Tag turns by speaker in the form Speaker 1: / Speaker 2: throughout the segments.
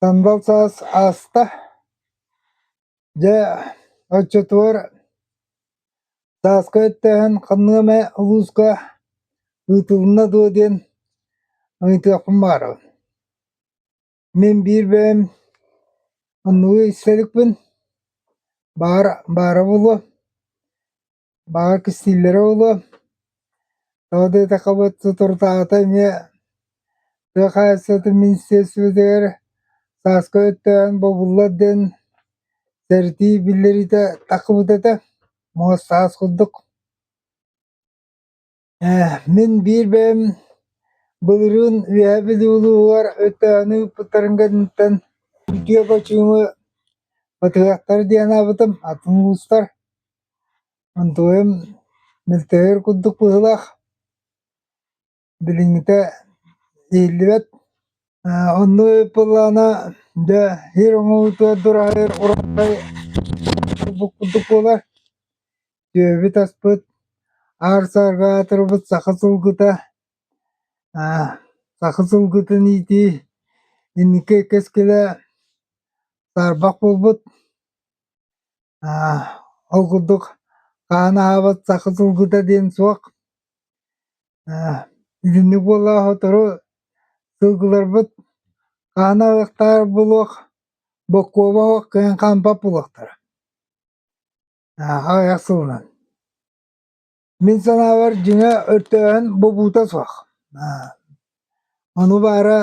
Speaker 1: Танбал саас ааста. Дьэ, оччотугар сааска өттөһөн ханнык эмэ улууска ыытылынна дуо диэн ыйытыахпын баҕарабын. Мин биир бэйэм оннугу истэ иликпин. Баар, баара буолуо. Баҕа кистииллэрэ буолуо, тоҕо диэтэххэбит, соторутааҕыта эмиэ тыа хаһаайыстыбатын министиэристибэтигэр сааска өттөөн бобуллар диэн сэрэтии биллэриитэ тахсыбыт этэ, муос саас курдук Мин биир бэйэм былырыын Үөһээ Бүлүү улууһугар ытааны ыыппыттарын кэнниттэн үтүө хочууну батыһыахтара дии анаабытым, атын улуустар. Антоим мөлтөһөр курдук быһыылаах. Билиҥҥитэ иһиллибэт. Онно ыппыллаана дьэ иһэр-хоһуутугар дураһыыр уруккуй курдук буолар. Түөбүт аспыт, аар-саарга аатырбыт саха сылгыта, саха сылгытын иитии инники кэскилэ саарбах буолбут. Ол курдук хаан аһаабат саха сылгыта диэн суох. Итинник буолла сотору сылгыларбыт хаан аһыахтаах буолуох, боккуоба суох кыһын хаампат буолуохтара. Ааха айах сылынан Мин санаабар, дьиҥэ өртөөһүн бобуута суох. Ону баара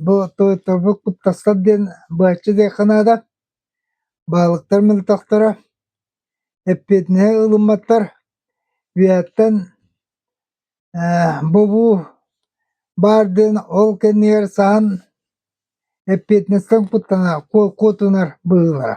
Speaker 1: бу тойотторбут куттастар диэн быһаччы диэххэ наада. Баһылыктар мөлтөхтөрө, эппиэтинэһи ылымматтар. Үйэттэн бобуу баар диэн ол кэннигэр саһан эппиэтинэстэн куттанар, куотунар быһыылара.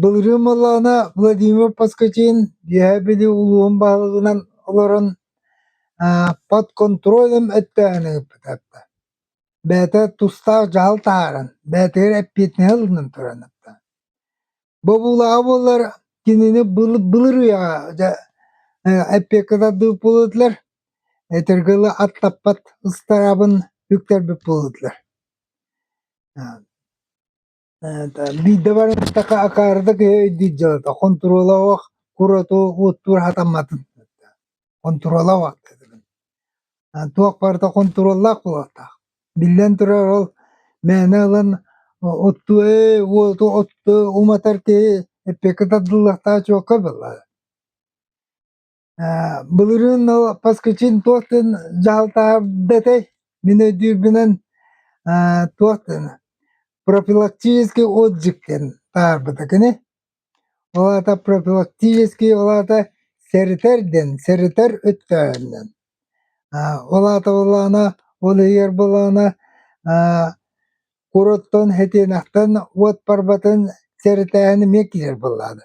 Speaker 1: Былырыын буоллаҕына Владимир Поскотин үөһээ Бүлүү улууһун баһылыгынан олорон под контролем эттээн ыыппыта. Бэйэтэ тустаах дьаһал таһааран, бэйэтигэр эппиэтинэһи ылынан туран ыытта. Бобуулаҕа буоллар кинини былырыыҥҥа эппиэккэ тардыбыт буолбутулар, этэргэ дылы аттаппат ыстараабын үктэрбит буолбутулар. Биирдэ баран ыстака акаарыта киһи өйдүүр дьыалата хонтуруолабах курату уоттуур хатамматын хонтуруолабах туох барыта хонтуруоллаах буолуохтаах биллэн турар ол мээнэ ылан оттуу ээ уоту оттуу уматар киһи эппиэккэ тардыллыахтаах чуокка буоллаҕа Э, былырыын но поскачин туох дын дьаһалтаарда этэй? Мин өйдүүрбүнэн, э, туох дын профилактический отдых диэн таарбыта кини. Ол аата профилактический, ол аата сэрэтэр диэн, сэрэтэр өттөөһүн диэн. Э, ол аата буоллаҕына, ол иһигэр буоллаҕына, э, курууттан хэтиэнэхтэн уот барбатын сэрэтээһини эмиэ киирэр буоллаҕына.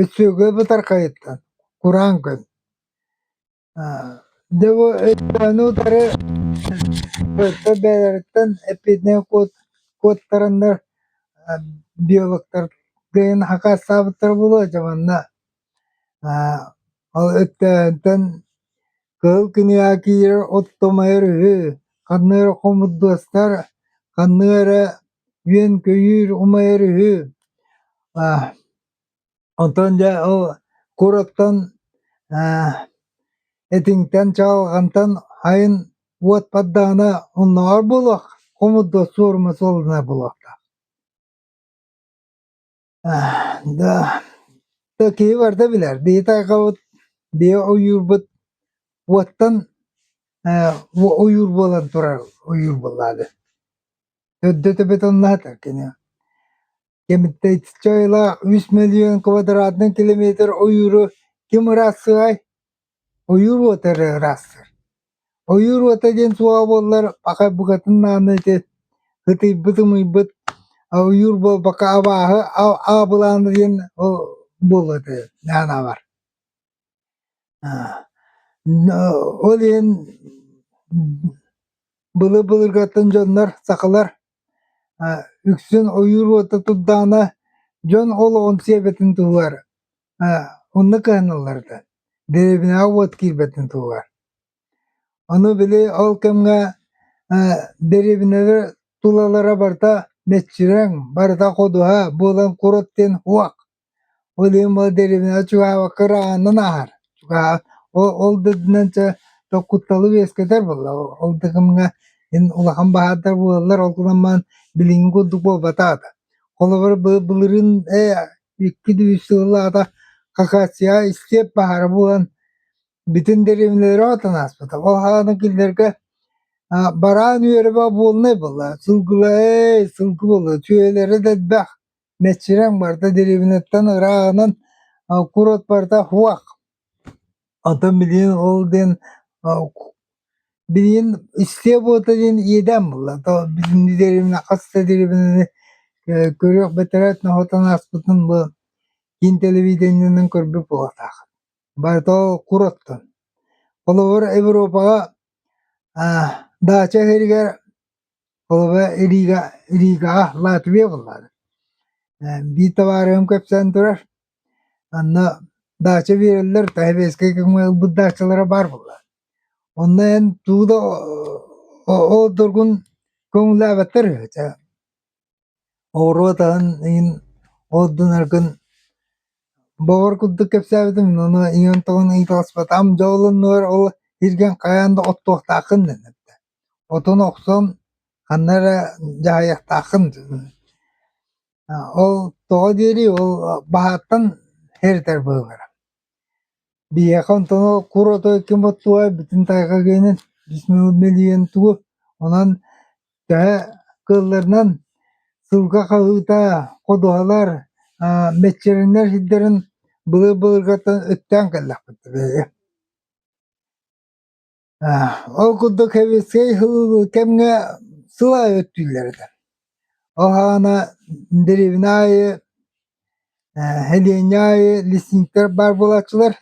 Speaker 1: Өссөге бытархайыттан кураан күн. Дьэ бу өйдөөнү утары өттө бэйэлэриттэн эпидемия куоттараннар биологтар дыйын хакаастаабыттара буолуо дьэ манна ол өттөөнтөн кыһыл кинигэ киирэр оттомойор үһү ханна эрэ хомурдуостар ханна эрэ үөн-көйүүр, умайар үһү. Аа, онтон дьэ ол курортан аа этиҥтэн чаҕылҕантан хайын уот поддаҕына оннооҕор буолуох, хомут да суорума суолланар буолуохтаах. да киһи барыта билэр биһи тайҕабыт биһи ойуурбут уоттан ойуур буолан турар ойуур буоллаады көрдөтөбүт оннаатар кини кэмиттэччи айылаах үс мөлүйүөн квадратный километр ойууру ким ырассыай Ойуур уота эрэ ыраастыр. Ойуур уота диэн суоҕа буоллар паха букатын ааны ити ытыйбыт ымыйбыт ойуур буолбакка абааһы аабылаана диэн ол буолуо этэ аан аабар. Ол иһин былыр былыргаттан дьоннор сахалар үксүн ойуур уота турдаҕына дьон олоҕун сиэбэтин туһугар Оннук гынан ылларда. Дэриэбинэҕэ уот киирбэтин туһугар. Ону били ол кэмҥэ дэриэбинэлэр тулалара барыта мэччирэҥ, барыта ходуһа буолан курут диэн уах. Ол иһин бу дэриэбинэҕэ чугаһаабакка ыраанынан аһар. Ол да үрдүнэн чэ кутталы үөскэтэр буолла. Ол да кэмҥэ эн улахан баһаардар буолаллар. Ол гынан баран билиҥҥи курдук буолбатаҕа да. Холобур, былырыын ээ икки дүү үс сыллаата акация истиэп баара буолан бүтүн дэриэбинэлэрэ отон ааспыта. Ол аһаан кинилэргэ аа бараан үөрэбэ буолунай буолла. Сылгыла ээ сылгы буолла. Сүөһүлэрэ да элбэх. Мэччирэҥ барда дэриэбинэттэн ырааҕынан а курорт барда хуах. Оттон билигин ол диэн билигин истиэ буота диэн иэдээн буолла. Билиннилэринэ хас да дэриэбинэни көрүөх бэтэрээт ноһуотун ааспытын бу киин тэлэбиидэнньэнэн көрбүт буолуохтаах. Барыта кур оттон. Холобур, Европаҕа даача иһэригэр Холобура, Рига, Ригаҕа Латвия буоллаҕына, э, биир табаарыһым кэпсээн турар, онно даача биэрэллэр, Таһевейскай көҥүл ылбыт даачалара баар буоллаҕа. Онно эн тугу да о- ол доргун көҥүллээбэттэр үһү. Чэ, оҕуруот аһын иһин ордунаргын бөҕөр курдук кэпсээбитим, ону ийэм тоҕон ыйыталаспатаҕым. Дьэ ол оннугар ол иргэн хайаан да оттуохтааххын диэн эттэ. Отун охсон ханна эрэ дьаһайыахтааххын ол тоҕо диэри ол баһааттан һэритэр быһыылара. Биһиэхэ онтону кур оту ким оттубай бүтүн тайҕа гыйынан бис миҥ мэлийэн тугу онон төһө кыылларынан сылга хаһыыта ходуһалар мэччирэҥнэр сирдэрин былыр-былыргаттан өттөөн кэллэхпит үһү Ол курдук сэбиэскэй кэмҥэ сыл аайы өттүүллэр этэ. Ол аана дэриэбинэ аайы, сэлиэнньэ аайы лесниктэр баар буолааччылар,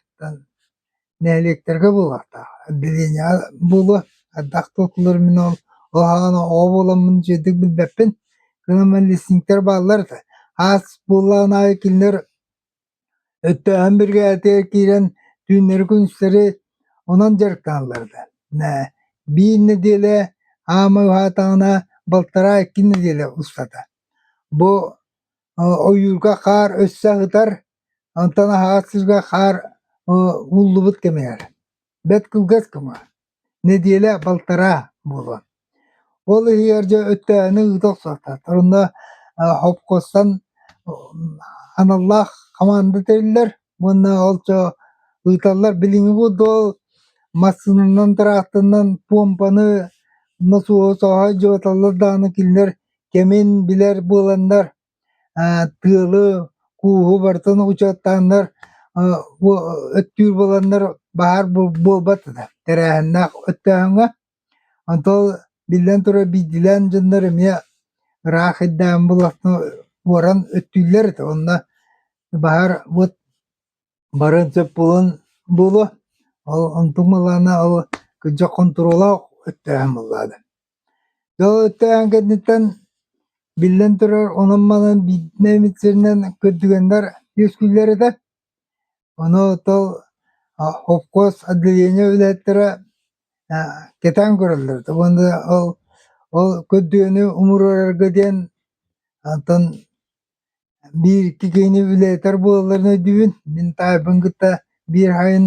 Speaker 1: нэһилиэктэргэ буолуохтаах. Отделениеҕа буолуо, ардах туоттуллар мин ол аана оҕо буоламмын дьиэдик билбэппин. Кынам лесниктэр бааллар этэ. Аас буоллаҕына аайы кинилэр Өттөөһүн биригээдэтигэр киирэн түүннэри-күнүстэри онон дьарыктаналларга ээ биир нэдиэлэ аама уһаатаҕына балтараа икки нэдиэлэ устата. Бу ойуурга хаар өссө аһытар, онтон аһаҕас сиргэ хаар ууллубут кэмигэр бэрт кылгас кыма. нэдиэлэ балтараа буолуо. Ол иһигэр дьэ өттөөһүнү ыыта охсототор. Онно хопкостан аналлаах хамаанда тэриллэр уонна ол чо ыыталлар. Билиҥҥи будуол массыынанан, тыраахтанан помпаны носуоһу соһо дьыбыталлар даҕаны кинилэр кэмин билэр буоланнар тыалы, кууһу барытын учуоттааннар өттүүр буоланнар баһаар буолбат тэрээһиннээх өттөөһүҥҥэ. Онтон биллэн турар биирдиилээн дьоннор эмиэ ыраах айдаан буолан өттүүллэр этэ. Онно баһаар вот барыан сөп буолуо. Ол онтум ылаана ол кырдьык хонтуруоллаах өттөөһүн буоллаҕа да. Далыктаан кэнниттэн, биллэн турар, онон-манан биирдэ эмит сиринэн көрдүгэннэр үөскүүллэр этэ. Ону оттон хопкуос отделение үлэһиттэрэ кэтээн көрөллөр этэ уонна ол ол көрдүгэни умуруорарга диэн онтон биир-икки киһини үлэһитэр буолалларын өйдүүбүн. Мин таайбын кытта биир аайын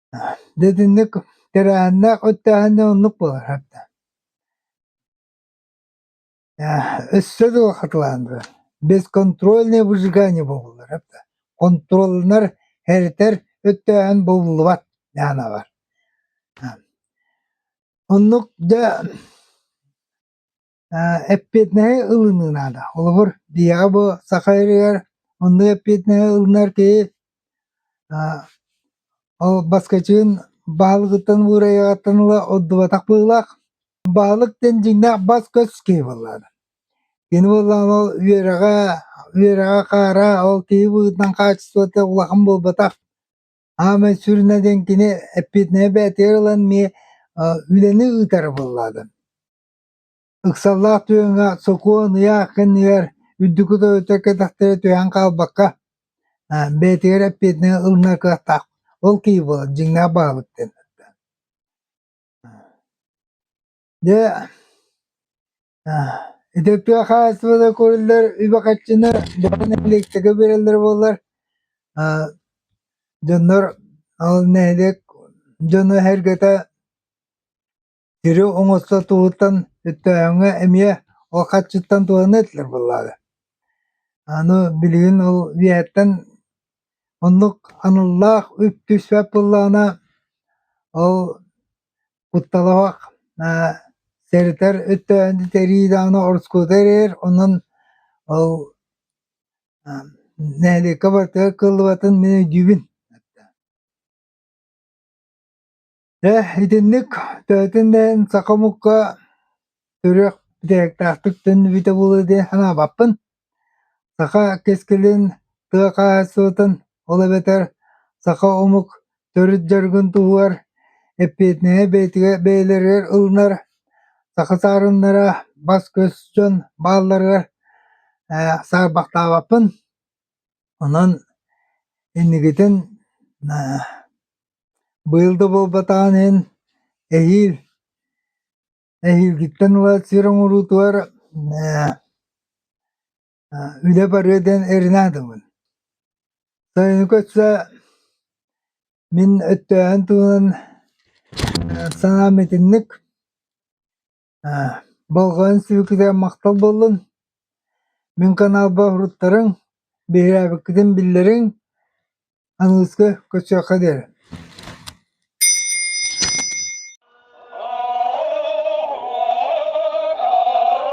Speaker 1: Дьэ итинник кырааннаах өттөөһүнэ оннук буолар да. Өссө да улахатылаанырар, бесконтрольное выжигание буолуллара да. Контролунар, эритэр өттөөһүн булуллубат даанабар. Оннук дьэ эппиэтинэһи ылыныы наада. Холобур, биһиэхэ бу Саха ырыгар онно эппиэтинэһи ылынар киһи ол баскачыын баһылыгыттан уурайаҕыттан ыла ордубатах быһыылаах. Баһылык диэн дьиҥнээх бас-көс киһи буоллаҕына. Кини буоллаҕына ол үөрэҕэ, үөрэҕэ хаара, ол киһи быһыытынан хаачыстыбата улахан буолбатах. Аамай сүрүнэ диэн кини эппиэтинэһи бээтигэр ылан эмиэ үлэни ыытара буоллаҕына. Ыксаллаах түөҥҥэ сокуон ыйаах кэннигэр үрдүкү тойоттор кэлтэхтэрэ түһэн хаалбакка, бэйэтигэр эппиэтинэһи ылына кыахтаах. Ол киһи буолар дьиҥнээх баһылык диэн Дьэ, ити тыа хаһаайыстыбата көрүллэр үбэ харчыны нэһилиэктэргэ биэрэллэр буоллар, дьоннор ол нэһилиэк дьоно эһэргэтэ Сири оҥосто туһуттан өттөөһүҥҥэ эмиэ ол харчыттан туһаны этилэр буоллаҕа. Аны билигин ол үөһэттэн оннук аналлаах үп түспэт буоллаҕына, ол кутталаах сэрэтэр өттөөһүнү тэрии даҕаны ороскуота эрэйэр, онон ол нэһилиэккэ барыта кыаллыбатын мин өйдүүбүн. Дьэ, итинник төһөтүн да эн саха омукка үрүөх бүтээктаахтык төннүбүтэ буолуо диэ санаабаппын. Саха кэскилин, тыа хаһаайыстыбатын, ол эбэтэр саха омук төрүт дьарыгын туһугар эппиэтинэһи бэйэтигэр бэйэлэригэр ылынар саха саарыннара, бас-көс дьон баалларыгар э, саарбахтаабаппын. Онон инникитин э, Быйыл да буолбатаҕын иһин, эһиил эһиилгиттэн ыла сир оҥоруутугар үлэ барыа диэн эрэнэ гынабын. Сайыны көрсө мин өттөөһүн туһунан санаам итинник. болҕойон сибикитэ махтал буоллун мин каналба уруттарыҥ биһирээбиккитин биллэриҥ аныыска көрсүөххэ диэри